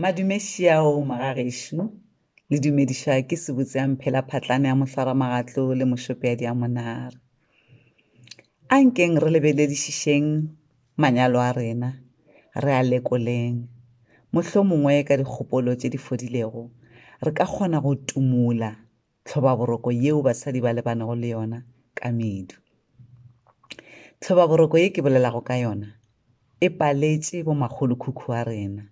Madume šiao magagešo, le dumedišwa ke sebotse ya mphela phatlane ya mohlwara magatlo le mošopeadi ya monara. A nkeng re lebeledišišeng manyalo a rena, re a lekoleng. Mohlomongwe ka dikgopolo tše di fodilego, re ka kgona go tumola tlhobaboroko yeo basadi ba lebanego le yona ka medu. Tlhobaboroko ye ke bolelago ka yona e paletše bomakgolokhukhu wa rena,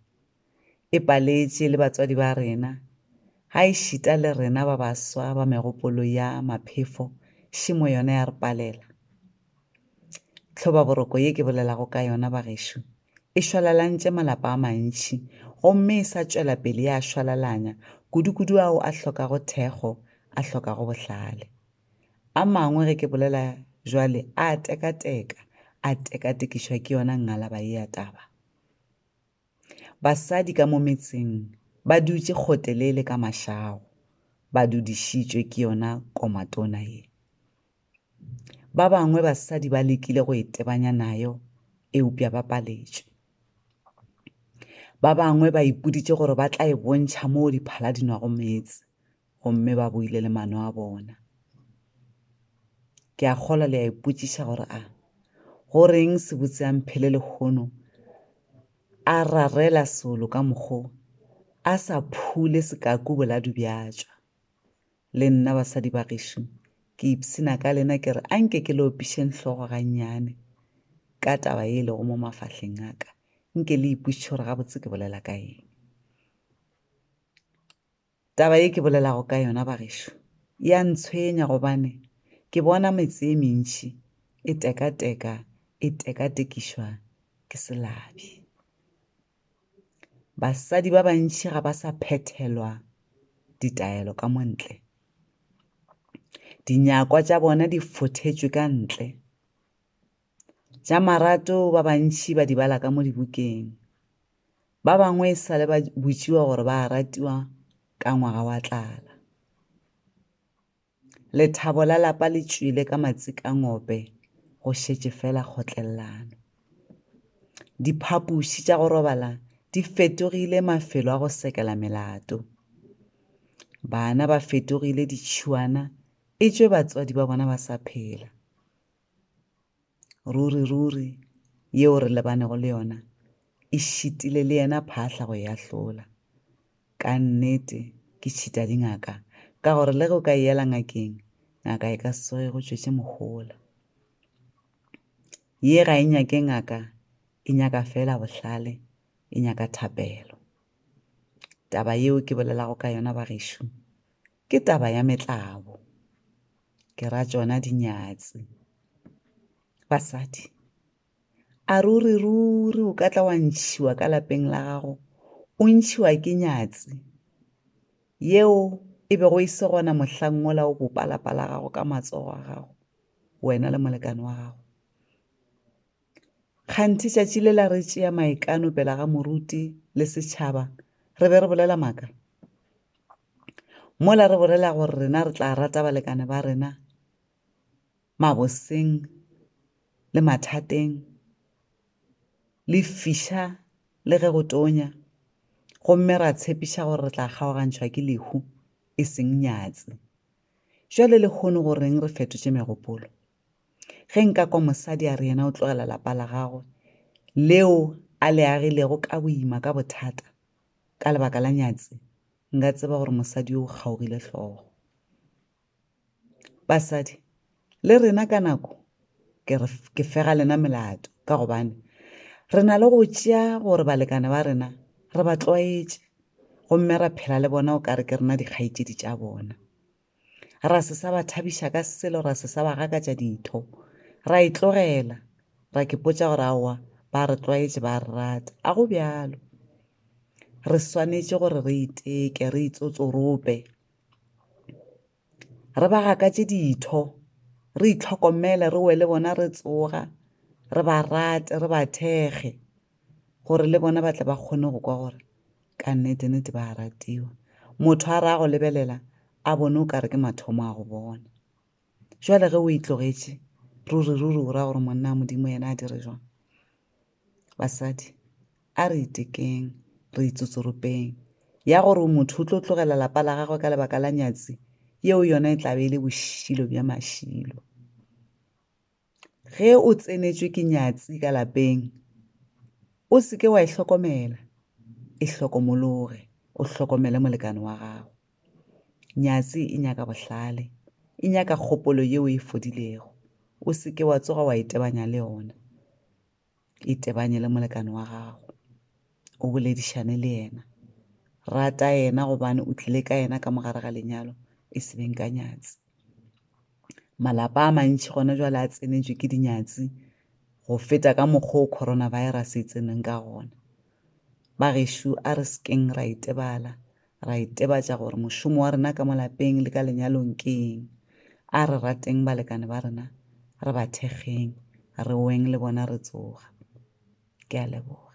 e paletše le batswadi ba rena, ga e šita le rena ba baswa ba megopolo ya maphefo šemo yona ya re palela. Tlhobaboroko ye ke bolelago ka yona bagešo e šwalalantše malapa a mantši gomme e sa tšwela pele ya a šwalalanya, kudukudu ao a hlokago thekgo, a hlokago bohlale. A mangwe, ge ke bolela bjale, a a tekateka, a tekatekišwa ke yona ngalaba ye ya taba. Basadi ka mo metseng ba dutše kgotelele ka mašago, ba dudišitšwe ke yona komatona ye. Ba bangwe basadi ba lekile go itebanya nayo eupša ba paletšwe. Ba bangwe ba ipoditše gore ba tla e bontšha moo diphala di nwago meetse gomme ba boile le mano a bona. Ke a kgolwa le a ipotšiša gore a go reng sebotse a mphele lehono a rarela solo ka mokgo a sa phule sekaku boladu bja tšwa. Le nna basadi ba gešo, ke ipshina ka lena ke re anke ke le opišeng hlogo gannyane ka taba ye e lego mo mafahleng a ka, nke le ipotše gore gabotse ke bolela ka eng. Taba ye ke bolelago ka yona ba gešo, ya ntshwenya gobane ke bona metse e mentši e tekateka e tekatekišwa ke selabi. Basadi ba bantši ga ba sa phethelwa ditaelo ka mo ntle. Dinyakwa tša bona di fothetšwe ka ntle. Tša marato ba bantši ba di bala ka mo dibukeng. Ba bangwe e sale ba botšiwa gore ba ratiwa ka ngwaga wa tlala. Lethabo la lapa le tšwele ka matsikangope go šetše fela kgotlellano. Diphapoši tša go robala di fetogile mafelo a go sekela melato. Bana ba fetogile ditšhuana etšwe batswadi ba bona ba sa phela. Ruri, ruri, yeo re lebanego le yona e šitile le yena phahla go e ahlola. Ka nnete, ke tšhita dingaka, ka gore le ge o ka e yela ngakeng, ngaka e ka se tsoge go tšwetše mohola. Ye ga e nyake ngaka, e nyaka fela bohlale, e nyaka thapelo. Taba yeo ke bolelago ka yona, bagešo, Ke taba ya metlabo. Ke ra tšona dinyatsi. Basadi, a ruri ruri o ka tla wa ntšhiwa ka lapeng la gago, o ntšhiwa ke nyatsi yeo e bego e se gona mohlang mola o bopa lapa la gago ka matsogo a gago, wena le molekane wa gago? Kganthe tšatši le la re tšea maikano pela ga moruti le setšhaba re be re bolela maaka? Mola re bolela gore rena re tla rata balekane ba rena maboseng le mathateng, le fiša le ge go tonya, gomme ra tshepiša gore re tla kgaogantšhwa ke lehu, e seng nyatsi. Bjale lehono go reng re fetotše megopolo? Ge nka kwa mosadi a re yena o tlogela lapa la gagwe leo a le agilego ka boima ka bothata ka lebaka la nyatsi, nka tseba gore mosadi yo o kgaogile hlogo. Basadi le rena ka nako ke re ke fega lena melato ka gobane re na le go tšea gore balekane ba rena re ba tlwaetše gomme ra phela le bona o ka re ke rena dikgaetšedi tša bona. ra se sa ba thabiša ka selo ra se sa ba gakatša ditho ra e tlogela ra ke potša gore aowa ba re tlwaetše ba re rata a go bjalo re swanetše gore re iteke re itsotsorope re ba gakatše ditho re itlhokomele re wele bona re tsoga re ba rate re ba thekge gore le bona ba tle ba kgone go kwa gore ka nnete nnete ba a ratiwa motho a ra go lebelela a bone o kare ke mathomo a go bona jwale ge o itlogetše ruri ruri o ra gore monna a modimo yena a dire jwang basadi a re itekeng re itsotsoropeng ya gore o motho o tlo tlogela lapa la gagwe ka lebaka la nyatsi yeo yona e tlabe e le bošilo bja mašilo Ge o tsenetšwe ke nyatsi ka lapeng, o se ke wa e hlokomela, e hlokomologe, o hlokomele molekane wa gago. Nyatsi e nyaka bohlale, e nyaka kgopolo yeo e fodilego, o se ke wa tsoga wa itebanya le yona. itebanye le molekane wa gago o boledišane le yena rata yena gobane o tlile ka yena ka mogare ga lenyalo e se beng ka nyatsi malapa a mantši gona jwale a tsenetswe ke dinyatsi go feta ka mokgwa o coronavirus e tseneng ka gona ba gešo a re sekeng ra itebala ra itebatša gore mošomo wa rena ka mo lapeng le ka lenyalong ke eng. A re rateng balekane ba rena, re ba thekgeng, re weng le bona re tsoga. Ke a leboga.